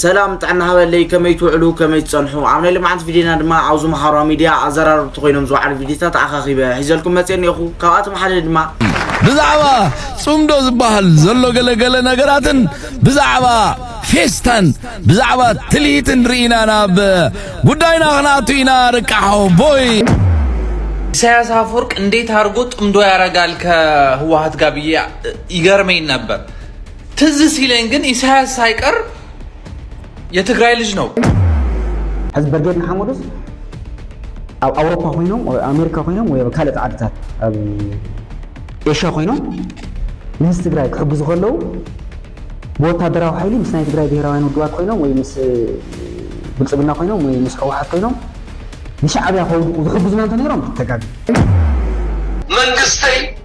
ሰላም ጥዕና ሃበለይ ከመይ ትውዕሉ ከመይ ትጸንሑ ኣብ ናይ ልምዓት ቪድዮና ድማ ኣብዚ መሃሯ ሚድያ ኣዘራረብቲ ኮይኖም ዝወዓሉ ቪድዮታት ኣኻኺበ ሒዘልኩም መጽየ እኒኦኹ ካብኣቶም ሓደ ድማ ብዛዕባ ጽምዶ ዝበሃል ዘሎ ገለ ገለ ነገራትን ብዛዕባ ፌስታን ብዛዕባ ትልሂትን ርኢና ናብ ጉዳይና ክንኣቱ ኢና ርቃሓው ቦይ ኢሳያስ አፈወርቅ እንዴት አድርጎ ጥምዶ ያረጋል ከህወሀት ጋር ብዬ ይገርመኝ ነበር። ትዝ ሲለኝ ግን ኢሳያስ ሳይቀር የትግራይ ልጅ ነው። ሕዚ በርጌድ ንሓመዱስ ኣብ ኣውሮፓ ኮይኖም ኣብ ኣሜሪካ ኮይኖም ወይ ኣብ ካልኦት ዓድታት ኣብ ኤሽያ ኮይኖም ንህዝቢ ትግራይ ክሕግዙ ከለዉ ብወታደራዊ ሓይሊ ምስ ናይ ትግራይ ብሄራውያን ውድባት ኮይኖም ወይ ምስ ብልፅግና ኮይኖም ወይ ምስ ሕወሓት ኮይኖም ንሻዕብያ ከውድቁ ዝሕግዙና እንተነይሮም ተጋግ መንግስተይ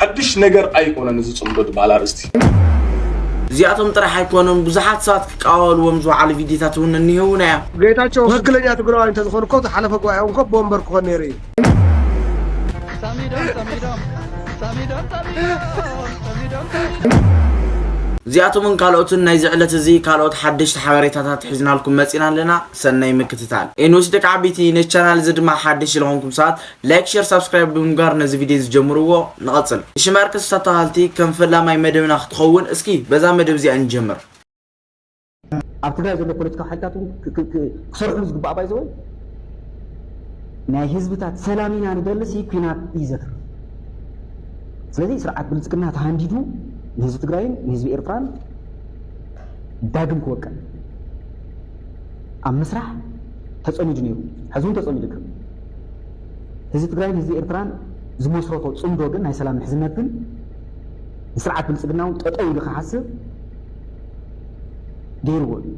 ሓድሽ ነገር ኣይኮነን እዚ ጽምዶ ዝበሃል ኣርእስቲ። እዚኣቶም ጥራሕ ኣይኮኑን ብዙሓት ሰባት ክቃወሉዎም ዝወዓሉ ቪድዮታት እውን እኒሀውና እዮም። ጌታቸው ትክክለኛ ትግራዋይ እንተዝኮን እኮ ዝሓለፈ ጉባኤኦም እኮ ቦምበር ክኮን ነይሩ እዩ። እዚኣቶምን ካልኦትን ናይዚ ዕለት እዚ ካልኦት ሓደሽቲ ሓበሬታታት ሒዝናልኩም መፂና ኣለና ሰናይ ምክትታል ኤንዌስ ደቂ ዓበይቲ ነዚ ቻናል እዚ ድማ ሓደሽቲ ዝኾንኩም ሰባት ላይክ ሸር ሳብስክራይብ ብምግባር ነዚ ቪድዮ እዚ ጀምርዎ ንቐጽል ሽማር ክስታ ተኻልቲ ከም ፈላማይ መደብና ክትኸውን እስኪ በዛ መደብ እዚኣ ንጀምር ኣብ ትግራይ ዘሎ ፖለቲካዊ ሓይልታት እውን ክሰርሕሉ ዝግባእ ባይ ዘወይ ናይ ህዝብታት ሰላም ኢና ንደልስ ኩናት እዩ ዘትርፍ ስለዚ ስርዓት ብልፅግና ተሃንዲዱ ንህዝቢ ትግራይን ንህዝቢ ኤርትራን ዳግም ክወቀል ኣብ ምስራሕ ተፀሚዱ ነይሩ ሕዚ እውን ተፀሚዱ ይርከብ ህዝቢ ትግራይን ህዝቢ ኤርትራን ዝመስረቶ ጽምዶ ግን ናይ ሰላም ምሕዝነት ግን ንስርዓት ብልጽግና እውን ጠጠው ኢሉ ክሓስብ ገይርዎ እዩ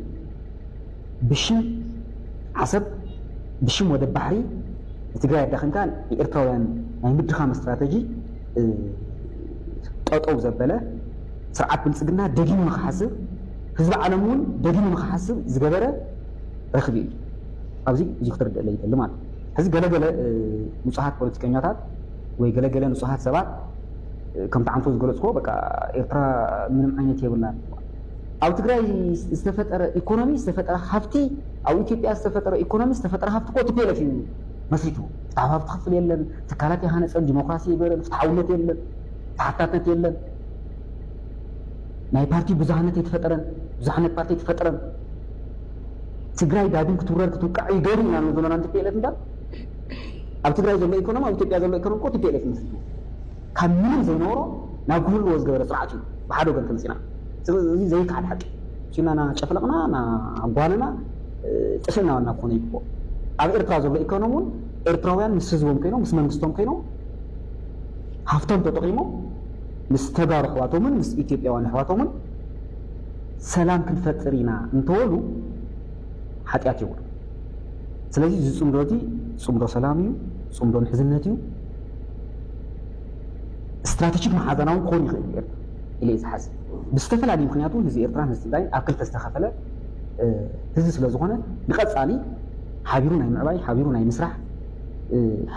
ብሽም ዓሰብ ብሽም ወደብ ባሕሪ ንትግራይ ኣዳኺምካ ንኤርትራውያን ናይ ምድኻም ስትራተጂ ጠጠው ዘበለ ስርዓት ብልጽግና ደጊሙ ንክሓስብ ህዝቢ ዓለም እውን ደጊሙ ንክሓስብ ዝገበረ ረኽቢ እዩ ኣብዚ እዚ ክትርድእለይ ይደሊ ማለት እዩ። ሕዚ ገለ ገለ ንጹሃት ፖለቲከኛታት ወይ ገለ ገለ ንጹሃት ሰባት ከምቲ ዓንቶ ዝገለጽክዎ በቃ ኤርትራ ምንም ዓይነት የብላን ኣብ ትግራይ ዝተፈጠረ ኢኮኖሚ ዝተፈጠረ ሃፍቲ ኣብ ኢትዮጵያ ዝተፈጠረ ኢኮኖሚ ዝተፈጠረ ሃፍቲ እኮ ቲፔለፍ እዩ መስሪቱ ፍትሓዊ ሃፍቲ ክፍል የለን ትካላት የሃነፀን ዲሞክራሲ የበረን ፍትሓውነት የለን ተሓታትነት የለን ናይ ፓርቲ ብዙሃነት የተፈጠረን ብዙሓነት ፓርቲ የተፈጠረን ትግራይ ዳግም ክትውረር ክትውቃዕ እዩ ገሩ ኢና ንብሎና ቲፒኤልኤፍ እምበር ኣብ ትግራይ ዘሎ ኢኮኖሚ ኣብ ኢትዮጵያ ዘሎ ኢኮኖሚ እኮ ቲፒኤልኤፍ መስሪቱ ካብ ምንም ዘይነበሮ ናብ ክህልዎ ዝገበረ ስርዓት እዩ ብሓደ ወገን ተመፂና እዚ ዘይከዓድ ሓቂ ኪና ና ጨፍለቕና ና ጓንና ጥፊእና ዋና ክኾነ ይግብኦ ኣብ ኤርትራ ዘሎ ኢኮኖሚ እውን ኤርትራውያን ምስ ህዝቦም ኮይኖም ምስ መንግስቶም ኮይኖም ሃፍቶም ተጠቂሞም ምስ ተጋሩ ኣሕዋቶምን ምስ ኢትዮጵያውያን ኣሕዋቶምን ሰላም ክንፈጥር ኢና እንተበሉ ሓጢኣት የብሉን። ስለዚ እዚ ፅምዶ እዚ ፅምዶ ሰላም እዩ፣ ፅምዶ ምሕዝነት እዩ፣ ስትራቴጂክ መሓዛና እውን ክኾን ይኽእል እዩ ኤርትራ ኢለ እየ ዝሓስብ። ብዝተፈላለዩ ምክንያት እውን ህዝቢ ኤርትራን ህዝቢ ትግራይን ኣብ ክልተ ዝተኸፈለ ህዝቢ ስለ ዝኾነ ንቐፃሊ ሓቢሩ ናይ ምዕባይ ሓቢሩ ናይ ምስራሕ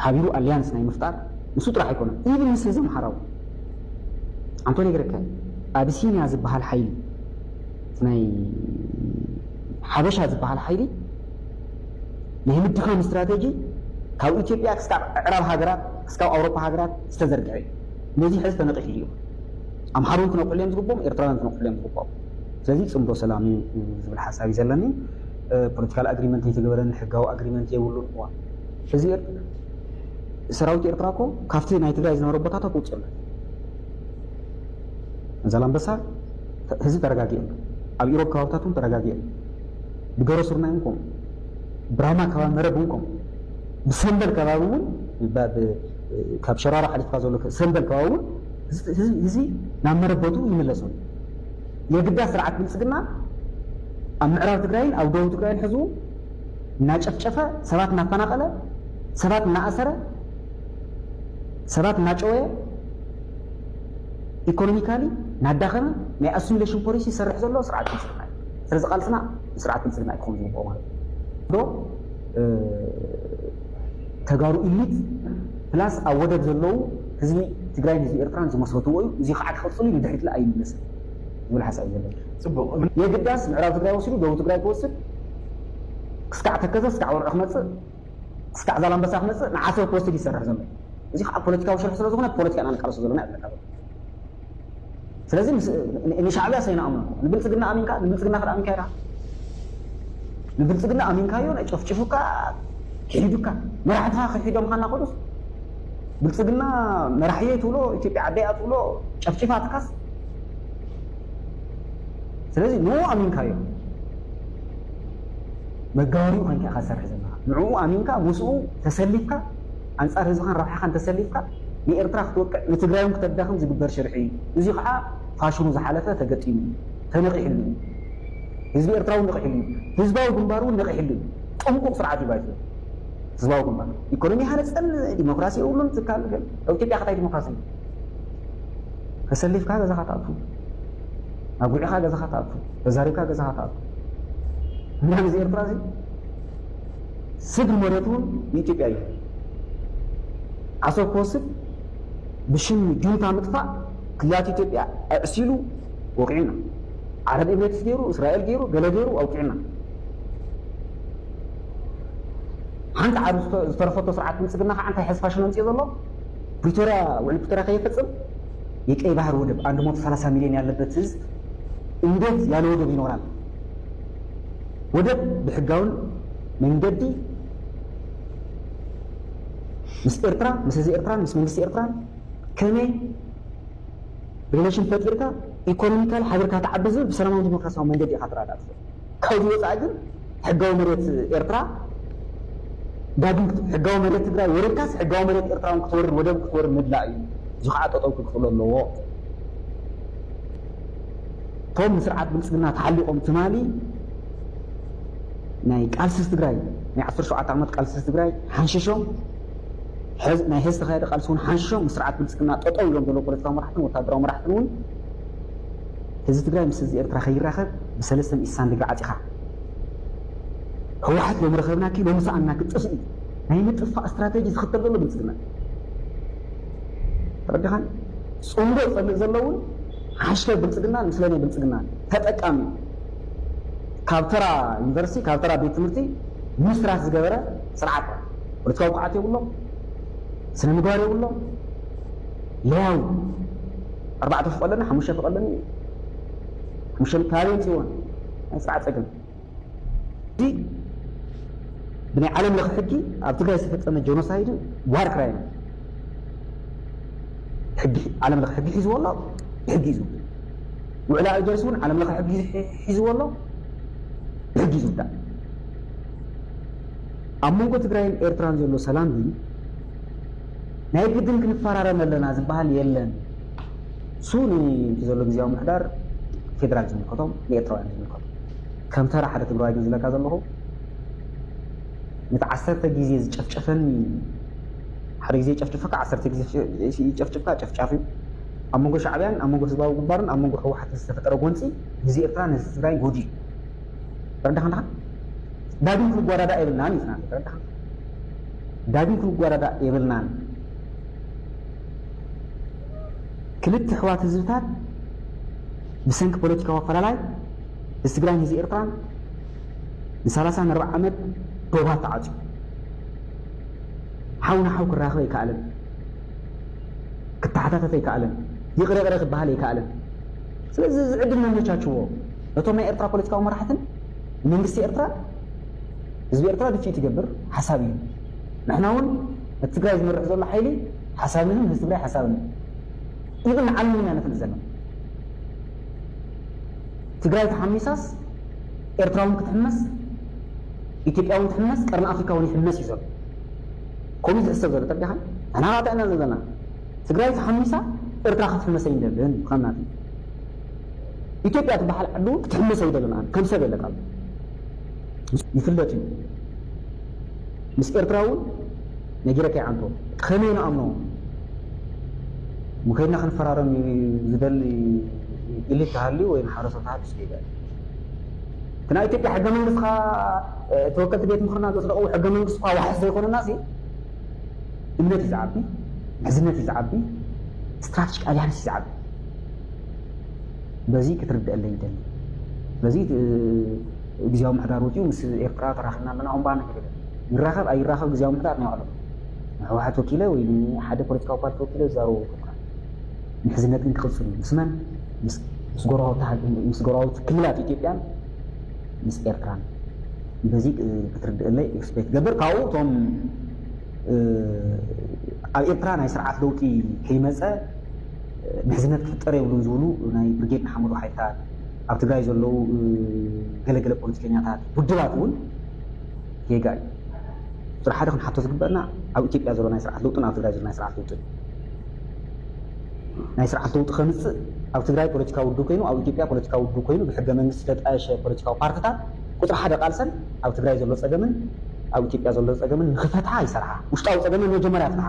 ሓቢሩ ኣሊያንስ ናይ ምፍጣር ንሱ ጥራሕ ኣይኮነን ኢቭን ምስ ህዝቢ ኣምሓራ እውን ኣንተ ነግረከ ኣቢሲንያ ዝበሃል ሓይሊ እቲ ናይ ሓበሻ ዝበሃል ሓይሊ ናይ ምድኻም ስትራተጂ ካብ ኢትዮጵያ ክስካብ ዕዕራብ ሃገራት ክስካብ ኣውሮፓ ሃገራት ዝተዘርግሐ እዩ ነዚ ሕዚ ተነቂሑ እዩ ኣምሓሩ እውን ክነቅሕሉ እዮም ዝግብኦም ኤርትራውያን ክነቅሕሉ እዮም ዝግብኦም ስለዚ ፅምዶ ሰላም እዩ ዝብል ሓሳብ እዩ ዘለኒ ፖለቲካል ኣግሪመንት ኣይተገበረን ሕጋዊ ኣግሪመንት የብሉን እዋ እዚ ሰራዊት ኤርትራ እኮ ካብቲ ናይ ትግራይ ዝነበረ ቦታታት ወፂኦ ኣሎ። ዛላምበሳ ህዝቢ ተረጋጊኦ ኣሎ። ኣብ ኢሮብ ከባብታት እውን ተረጋጊኦ ኣሎ። ብገሮ ስርናይ እውን ከምኡ፣ ብራማ ከባቢ መረብ እውን ከምኡ፣ ብሰንበል ከባቢ እውን ካብ ሸራሮ ሓሊፍካ ዘሎ ሰንበል ከባቢ እውን ህዝቢ ናብ መረበቱ ይምለሱ የግዳ ስርዓት ብልፅግና ኣብ ምዕራብ ትግራይን ኣብ ደቡብ ትግራይን ሕዝቡ እናጨፍጨፈ ሰባት እናፈናቐለ ሰባት እናኣሰረ፣ ሰባት እናጨወየ፣ ኢኮኖሚካሊ እናዳኸመ ናይ ኣሱሚለሽን ፖሊሲ ዝሰርሕ ዘሎ ስርዓት ብልፅግና እዩ። ስለዚ ቃልስና ንስርዓት ብልፅግና እዩ ክኸውን ዝግብኦ ማለት እዩ። ዶ ተጋሩ ኢሊት ፕላስ ኣብ ወደብ ዘለዉ ህዝቢ ትግራይን ህዝቢ ኤርትራን ዝመስረትዎ እዩ። እዚ ከዓ ክቕፅል እዩ፣ ንድሕሪት ለ ኣይምለስን ዝብል ሓሳብ እዩ ዘለኒ። የግዳስ ምዕራብ ትግራይ ወሲዱ ደቡብ ትግራይ ክወስድ ክስካዕ ተከዘ ክስካዕ ወርዑ ክመፅእ እስካዕ ዛላምበሳ ክመጽእ ንዓሰብ ክወስድ እዩ ዝሰርሕ ዘሎ። እዚ ክኣ ፖለቲካዊ ሽርሒ ስለ ዝኾነ ብፖለቲካ ኢና ንቃለሶ ዘሎና ይብለካ ዘሎ። ስለዚ ንሻዕብያ ሰይንኣምኖ ንብልጽግና ኣሚንካ ንብልጽግና ክኣ ኣሚንካዮ ድኣ ንብልጽግና ኣሚንካዮ ናይ ጨፍጭፉካ ኪሒዱካ መራሕትኻ ኪሒዶም ኻና ከዱስ ብልጽግና መራሕየይ ትብሎ ኢትዮጵያ ዓደይ እያ ትብሎ ጨፍጭፋትካስ ስለዚ ንኡ ኣሚንካዮ መጋበሪኡ ኮይንካ ኢኻ ትሰርሕ ዘለኻ። ንዕኡ ኣሚንካ ምስኡ ተሰሊፍካ ኣንጻር ህዝብኻን ረብሓኻን ተሰሊፍካ ንኤርትራ ክትወቅዕ ንትግራይውን ክተዳኽም ዝግበር ሽርሒ እዩ። እዚ ከኣ ፋሽሉ ዝሓለፈ ተገጢሙ እዩ። ተነቒሕሉ እዩ። ህዝቢ ኤርትራውን ነቒሕሉ እዩ። ህዝባዊ ግንባርውን ነቒሕሉ እዩ። ጥንቁቕ ስርዓት እዩ ባይቶ ህዝባዊ ግንባር። ኢኮኖሚ ኣይሃነጸን፣ ዲሞክራሲ የብሉን፣ ትካል ገለ። ኣብ ኢትዮጵያ ከ ታይ ዲሞክራሲ ኣሎ? ተሰሊፍካ ገዛኻ ትኣቱ፣ ኣጒዒኻ ገዛኻ ትኣቱ፣ ተዛሪብካ ገዛኻ ትኣቱ። እና ነዚ ኤርትራ እዚ ስግር መሬቱ እውን ንኢትዮጵያ እዩ ዓሰብ ክወስድ ብሽም ጁንታ ምጥፋእ ክልላት ኢትዮጵያ ኣዕሲሉ ወቂዑና ዓረብ ኤምሬትስ ገይሩ እስራኤል ገይሩ ገለ ገይሩ ኣውቂዑና ሓንቲ ዓር ዝተረፈቶ ስርዓት ብልፅግና ከዓ እንታይ ሕዚ ፋሽን ኣምፅኦ ዘሎ ፕሪቶሪያ ውዕል ፕሪቶሪያ ከየፈፅም የቀይ ባህር ወደብ አንድ ሞቶ ሰላሳ ሚሊዮን ያለበት ህዝብ እንዴት ያለ ወደብ ይኖራል? ወደብ ብሕጋውን መንገዲ ምስ ኤርትራ ምስ ህዝቢ ኤርትራን ምስ መንግስቲ ኤርትራን ከመይ ሪለሽን ፈጢርካ ኢኮኖሚካሊ ሓቢርካ ትዓቢ ዝብል ብሰላማውን ዲሞክራሲያውን መንገዲ ኢኻ ትረዳእ ትኽእል። ካብዚ ወፃኢ ግን ሕጋዊ መሬት ኤርትራ ዳግም ሕጋዊ መሬት ትግራይ ወሪርካስ ሕጋዊ መሬት ኤርትራ እውን ክትወርር ወደብ ክትወርር ምድላእ እዩ። እዚ ከዓ ጠጠው ክክፍሎ ኣለዎ። እቶም ንስርዓት ብልፅግና ተሓሊቖም ትማሊ ናይ ቃልሲ ህዝቢ ትግራይ ናይ ዓሰርተ ሸውዓተ ዓመት ቃልሲ ህዝቢ ትግራይ ሓንሺሾም ናይ ህዝቢ ዝተኻየደ ቃልሲ እውን ሓንሺሾም ምስ ስርዓት ብልፅግና ጠጠው ኢሎም ዘለዉ ፖለቲካዊ መራሕትን ወታደራዊ መራሕትን እውን ህዝቢ ትግራይ ምስ ህዝቢ ኤርትራ ከይራኸብ ብሰለስተ ሚእቲ ስሳን ድግሪ ዓጺኻ ህወሓት ሎሚ ረኸብናኪ ሎሚ ሰኣንናኪ ጥፍኢ ናይ ምጥፋእ ስትራተጂ ዝኽተል ዘሎ ብልጽግና ተረዲኻን ጽምዶ ዝጸንዕ ዘሎ እውን ሓሽከር ብልጽግናን ምስለኔ ብልጽግናን ተጠቃሚ ካብ ተራ ዩኒቨርሲቲ ካብ ተራ ቤት ትምህርቲ ምስራት ዝገበረ ስርዓት ፖለቲካዊ ብቕዓት የብሎም ስነ ምግባር የብሎም ለያዊ ኣርባዕተ ፉቕ ኣለኒ ሓሙሽተ ፉቕ ኣለኒ ይብል ሓሙሽተ ካበይ የምፅእዎን ናይ ስርዓት ፀገም እዚ ብናይ ዓለም ለኽ ሕጊ ኣብ ትግራይ ዝተፈፀመ ጀኖሳይድን ዋር ክራይም ሕጊ ዓለም ለኽ ሕጊ ሒዝዎ ኣሎ ብሕጊ እዩ ዝውዳእ ውዕሊ ኣልጀርስ እውን ዓለም ለኽ ሕጊ ሒዝዎ ኣሎ ብሕጊ እዩ ዝውዳእ ኣብ መንጎ ትግራይን ኤርትራን ዘሎ ሰላም ግን ናይ ግድን ክንፈራረም ኣለና ዝበሃል የለን። እሱ ንቲ ዘሎ ግዜያዊ ምሕዳር ፌደራል ዝምልከቶም ንኤርትራውያን ዝምልከቶም ከም ተራ ሓደ ትግራዋይ ግን ዝብለካ ዘለኹ ነቲ ዓሰርተ ግዜ ዝጨፍጨፈኒ ሓደ ግዜ ጨፍጭፈካ ዓሰርተ ግዜ ይጨፍጭፍካ ጨፍጫፍ እዩ ኣብ መንጎ ሻዕብያን ኣብ መንጎ ህዝባዊ ግንባርን ኣብ መንጎ ህወሓትን ዝተፈጠረ ጎንፂ ንህዝቢ ኤርትራ ንህዝቢ ትግራይ ጎዲ እዩ ተረዳኻ ዳግም ክንጓዳዳ የብልናን እዩ ተረዳኻ ዳግም ክንጓዳዳእ የብልናን ክልተ ኣሕዋት ህዝብታት ብሰንኪ ፖለቲካዊ ኣፈላላይ ህዝቢ ትግራይን ህዝቢ ኤርትራን ንሳላሳን ኣርባዕ ዓመት ዶባት ተዓፅዩ ሓው ንሓው ክራኸብ ኣይከኣልን ክተሓታተፍ ኣይከኣልን ይቕረ ይቕረ ክበሃል ኣይከኣልን ስለዚ እዚ ዕድል ነመቻችዎ ነቶም ናይ ኤርትራ ፖለቲካዊ መራሕትን መንግስቲ ኤርትራ ህዝቢ ኤርትራ ድፊኢት ይገብር ሓሳብ እዩ ንሕና ውን ነቲ ትግራይ ዝመርሕ ዘሎ ሓይሊ ሓሳብን እዩ ንህዝቢ ትግራይ ሓሳብን እዩ ኢቭን ንዓለም ውን ኢና ነፍልጥ ዘለና ትግራይ ተሓሚሳስ ኤርትራ ውን ክትሕመስ ኢትዮጵያ ውን ትሕመስ ቀርኒ ኣፍሪካ ውን ይሕመስ እዩ ዘሎ ከምኡ ዝሕሰብ ዘሎ ተርዲኻ ንሕና ካታ ኢና ዘለና ትግራይ ተሓሚሳ ኤርትራ ክትሕመሰ ይንደልን ከምናት ኢትዮጵያ ትበሃል ዓዲ እውን ክትሕመስ ኣይደልን ኣነ ከም ሰብ የለካ ኣሎ ይፍለጥ እዩ ምስ ኤርትራ እውን ነጊረካ ይዓንቶ ከመይ ንኣምኖ ምከድና ክንፈራረም ዝደሊ ኢሊት ተሃልዩ ወይ ማሕበረሰብ ተሃልዩ ስገይበል እቲ ናይ ኢትዮጵያ ሕገ መንግስትካ ተወከልቲ ቤት ምክርና ዘፅደቕዎ ሕገ መንግስቲ እኳ ዋሕስ ዘይኮነና ሲ እምነት እዩ ዝዓቢ ምሕዝነት እዩ ዝዓቢ ስትራቴጂክ ኣሊያንስ እዩ ዝዓቢ በዚ ክትርደኣለይ ይደሊ። ስለዚ እቲ ግዝያዊ ምሕዳር ወጺኡ ምስ ኤርትራ ተራኺብና ኣለና እምባ ንክብል ይራኸብ ኣይራኸብ ግዝያዊ ምሕዳር ናይ ባዕሎም ንሕወሓት ወኪለ ወይ ንሓደ ፖለቲካዊ ፓርቲ ወኪለ ዝዛረቡ ይፈልካ ምሕዝነት ግን ክቕፅል እዩ ምስ መን ምስ ጎረባውቲ ክልላት ኢትዮጵያን ምስ ኤርትራን በዚ ክትርድእለይ ኤክስፔክት ገብር ካብኡ እቶም ኣብ ኤርትራ ናይ ስርዓት ለውጢ ከይመፀ ምሕዝነት ክፍጠር የብሉን ዝብሉ ናይ ብርጌድ ንሓመዱ ሓይልታት፣ ኣብ ትግራይ ዘለዉ ገለ ገለ ፖለቲከኛታት፣ ውድባት እውን ጌጋ እዩ። ቁፅሪ ሓደ ክንሓቶ ዝግበእና ኣብ ኢትዮጵያ ዘሎ ናይ ስርዓት ለውጥን ኣብ ትግራይ ዘሎ ናይ ስርዓት ለውጥን እዩ። ናይ ስርዓት ለውጢ ከምፅእ ኣብ ትግራይ ፖለቲካዊ ውድብ ኮይኑ ኣብ ኢትዮጵያ ፖለቲካዊ ውድብ ኮይኑ ብሕገ መንግስቲ ዝተጣየሸ ፖለቲካዊ ፓርትታት ቁፅሪ ሓደ ቃልሰን ኣብ ትግራይ ዘሎ ፀገምን ኣብ ኢትዮጵያ ዘሎ ፀገምን ንክፈትሓ ይሰርሓ። ውሽጣዊ ፀገመን መጀመርያ ፍትሓ።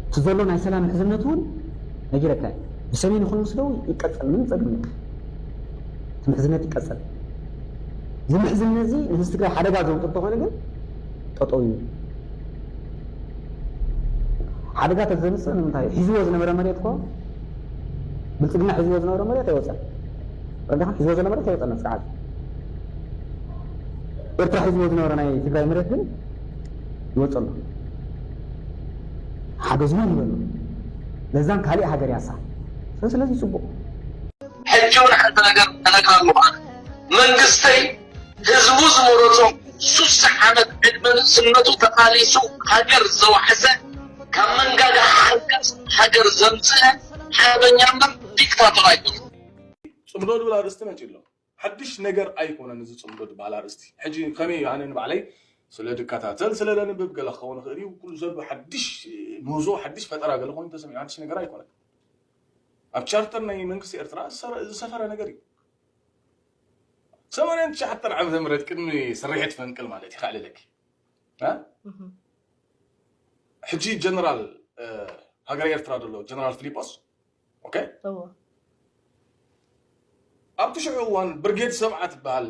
እቲ ዘሎ ናይ ሰላም ምሕዝነት እውን ነጊረካ እየ ብሰሜን ይኹን ምስ ደቡብ ይቀፀል ምንም ፀገም የለን እቲ ምሕዝነት ይቀፀል እዚ ምሕዝነት እዚ ንህዝቢ ትግራይ ሓደጋ ዘውፅእ እንተኾነ ግን ጠጠው ይብል ሓደጋ ተዘምፅእ ንምንታይ ሒዝዎ ዝነበረ መሬት ኮ ብልፅግና ሒዝዎ ዝነበረ መሬት ኣይወፀን ረዳኻ ሒዝዎ ዘሎ መሬት ኣይወፀን ስርዓት ኤርትራ ሒዝዎ ዝነበረ ናይ ትግራይ መሬት ግን ይወጽእ ኣሎ ሓገዝና ንበሎ ለዛን ካሊእ ሃገር ያሳ ሰ ስለዚ ጽቡቅ ሕጂ ውን ሓንቲ ነገር ከነግራ ኣለኹ መንግስተይ ህዝቡ ዝመረጾ ሱሳ ዓመት ዕድመ ንእስነቱ ተቃሊሱ ሃገር ዘዋሕሰ ካብ መንጋጋ ሓንካስ ሃገር ዘምጽእ ሓርበኛ እምበር ዲክታቶር ኣይኮነን። ጽምዶ ዝብል ኣርእስቲ መጺኡ ኣሎ። ሓድሽ ነገር ኣይኮነን እዚ ጽምዶ ዝብሃል ኣርእስቲ። ሕጂ ከመይ እዩ ኣነ ንባዕለይ ስለ ዝከታተል ስለ ዘንብብ ገለ ክኸውን ይኽእል እዩ ኩሉ ዘሎ ሓድሽ ምህዞ ሓድሽ ፈጠራ ገለ ኮይኑ ተሰሚዑ ሓድሽ ነገር ኣይኮነን። ኣብ ቻርተር ናይ መንግስቲ ኤርትራ ዝሰፈረ ነገር እዩ። ሰማንያን ትሽዓተን ዓመተ ምህረት ቅድሚ ስርሒት ፈንቅል ማለት እዩ ከዕልለኪ ሕጂ ጀነራል ሃገረ ኤርትራ ዘሎ ጀነራል ፊሊጶስ ኣብቲ ሽዑ እዋን ብርጌድ ሰብዓ ትበሃል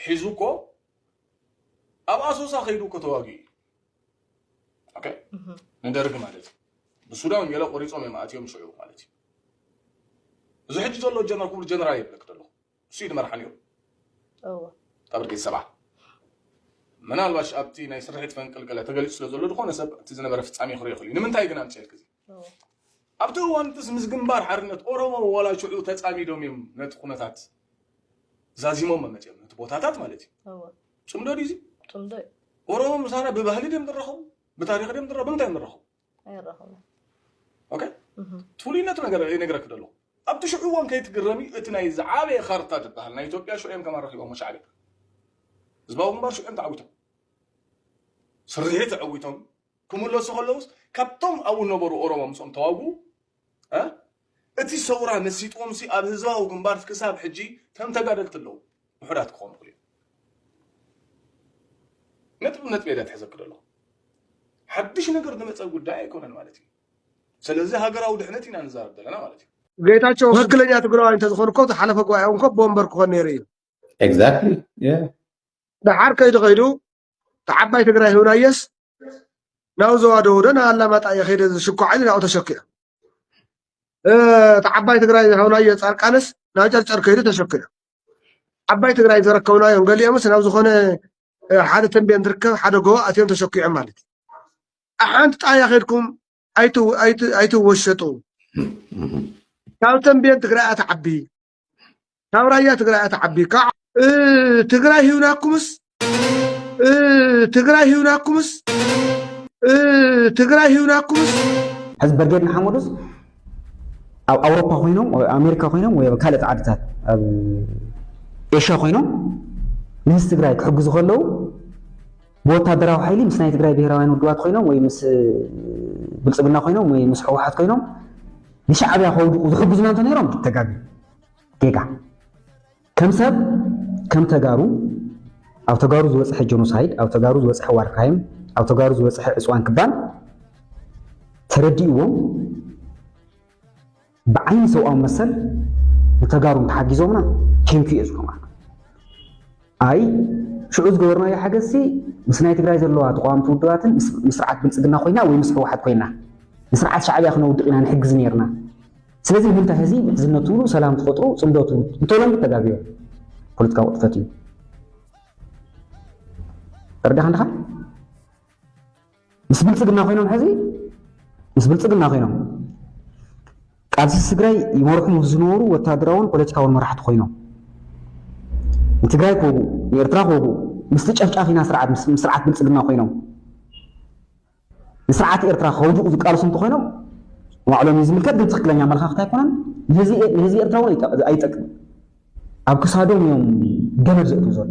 ሒዙ እኮ ኣብ ኣሶሳ ከይዱ እኮ ተዋጊኡ ንደርግ ማለት እዩ ብሱዳን ገለ ቆሪፆም እዮም ኣትዮም ሽዑ ማለት እዩ እዚ ሕጂ ዘሎ ጀነራል ክቡር ጀነራል የብለክ ደለኹ እሱ እዩ ድመርሓ ነይሩ ካብ ብርጌድ ሰብዓ ምናልባሽ ኣብቲ ናይ ስርሒት ፈንቅል ገለ ተገሊፁ ስለ ዘሎ ዝኾነ ሰብ እቲ ዝነበረ ፍፃሜ ክሪኦ ክእል እዩ ንምንታይ ግን ኣምፅኤልክ እዚ ኣብቲ እዋንትስ ምስ ግንባር ሓርነት ኦሮሞ ዋላ ሽዑ ተጻሚዶም እዮም ነቲ ኩነታት ዛዚሞሞ መጺኦም ነቲ ቦታታት ማለት እዩ እወ ጽምዶ ድዩ እዚ ጽምዶ እዩ ኦሮሞ ምሳና ብባህሊ ድዮም ዝራኸቡ ብታሪኽ ድዮም ዝራኸቡ ብምንታይ እዮም ዝራኸቡ ኣይራኸቡን ኦኬ እህ፣ እቲ ፍሉይነቱ ነገር ይነግረክ ደሎ ኣብቲ ሽዑ እዋን ከይትግረም እዩ እቲ ናይ ዝዓበየ ካርታ ዝበሃል ናይ ኢትዮጵያ ሽዑ እዮም ከም ኣረኪቦሞ ሻዕብያ ህዝባዊ ግንባር ሽዑ እዮም ተዓዊቶም ስርሒት ተዓዊቶም ክምለሱ ከለውስ ካብቶም ኣብኡ ነበሩ ኦሮሞ ምስኦም ተዋግኡ እ እቲ ሰውራ መሲጥዎምሲ ኣብ ህዝባዊ ግንባር ክሳብ ሕጂ ከም ተጋደልቲ ኣለዉ ውሑዳት ክኾኑ ይኽእሉ እዮም ነጥቢ ነጥቢ እየ ዘትሕዘኪ ዘለኹ ሓድሽ ነገር ዝመፀ ጉዳይ ኣይኮነን ማለት እዩ ስለዚ ሃገራዊ ድሕነት ኢና ንዛረብ ዘለና ማለት እዩ ጌታቸው ትክክለኛ ትግራዋይ እንተዝኾን እኮ ዝሓለፈ ጉባኤ እኮ ቦምበር ክኾን ነይሩ እዩ ኤግዛክትሊ ደሓር ከይዱ ከይዱ ንዓባይ ትግራይ ህብናዮስ ናብ ዞባ ደቡብ ዶ ናብ ኣላማጣ እየ ከይደ ዝሽኳዕ ኢሉ ናብኡ ተሸኪዑ እቲ ዓባይ ትግራይ ዝሃብናዮ ፃርቃንስ ናብ ጨርጨር ከይዱ ተሸኪዑ ዓባይ ትግራይ ዘረከብናዮም ገሊኦምስ ናብ ዝኾነ ሓደ ተንቤን ዝርከብ ሓደ ጎቦ ኣትዮም ተሸኪዖም ማለት እዩ ሓንቲ ጣያ ከድኩም ኣይትወሸጡ ካብ ተንቤን ትግራይ ኣትዓቢ ካብ ራያ ትግራይ እያ ትዓቢ ካብ ትግራይ ሂብናኩምስ ትግራይ ሂብናኩምስ ትግራይ ሂብናኩምስ ሕዚ በርጌድ ንሓመዱስ ኣብ ኣውሮፓ ኮይኖም ኣሜሪካ ኮይኖም ወይ ኣብ ካልኦት ዓድታት ኣብ ኤሽያ ኮይኖም ንህዝቢ ትግራይ ክሕግዙ ከለዉ ብወታደራዊ ሓይሊ ምስ ናይ ትግራይ ብሄራውያን ውድባት ኮይኖም ወይ ምስ ብልፅግና ኮይኖም ወይ ምስ ሕወሓት ኮይኖም ንሻዕብያ ከውድቁ ዝሕግዙና እንተነይሮም ተጋግዩ ጌጋ ከም ሰብ ከም ተጋሩ ኣብ ተጋሩ ዝበፅሐ ጀኖሳይድ ኣብ ተጋሩ ዝበፅሐ ዋር ክራይም ኣብ ተጋሩ ዝበፅሐ ዕፅዋን ክባን ተረዲእዎም ብዓይኒ ሰብኣዊ መሰል ንተጋሩ እንተሓጊዞምና ቴንኪ እየ ዝብሎም ኣይ ሽዑ ዝገበርናዮ ሓገዝሲ ምስ ናይ ትግራይ ዘለዋ ተቃዋምቲ ውድባትን ምስ ስርዓት ብልፅግና ኮይና ወይ ምስ ህወሓት ኮይና ንስርዓት ሻዕብያ ክነውድቕ ኢና ንሕግዝ ነርና ስለዚ ንምንታይ ህዚ ምሕዝነት ትብሉ ሰላም ትፈጥሩ ፅምዶ ትብሉ እንተሎም ተጋግዮ ፖለቲካ ቁጥፈት እዩ ተረዳኻ ንድኻ ምስ ብልፅግና ኮይኖም ሕዚ ምስ ብልፅግና ኮይኖም ቃልሲ ትግራይ ይመርሑ ምስ ዝነበሩ ወታደራውን ፖለቲካውን መራሕቲ ኮይኖም ንትግራይ ክወግኡ ንኤርትራ ክወግኡ ምስቲ ጨፍጫፊና ስርዓት ምስ ስርዓት ብልፅግና ኮይኖም ንስርዓት ኤርትራ ከውድቑ ዝቃልሱ እንተኾይኖም ንባዕሎም እዩ ዝምልከት ግን ትኽክለኛ ኣመለኻኽታ ኣይኮነን ንህዝቢ ኤርትራ እውን ኣይጠቅም ኣብ ክሳዶም እዮም ገመድ ዘእትው ዘሎ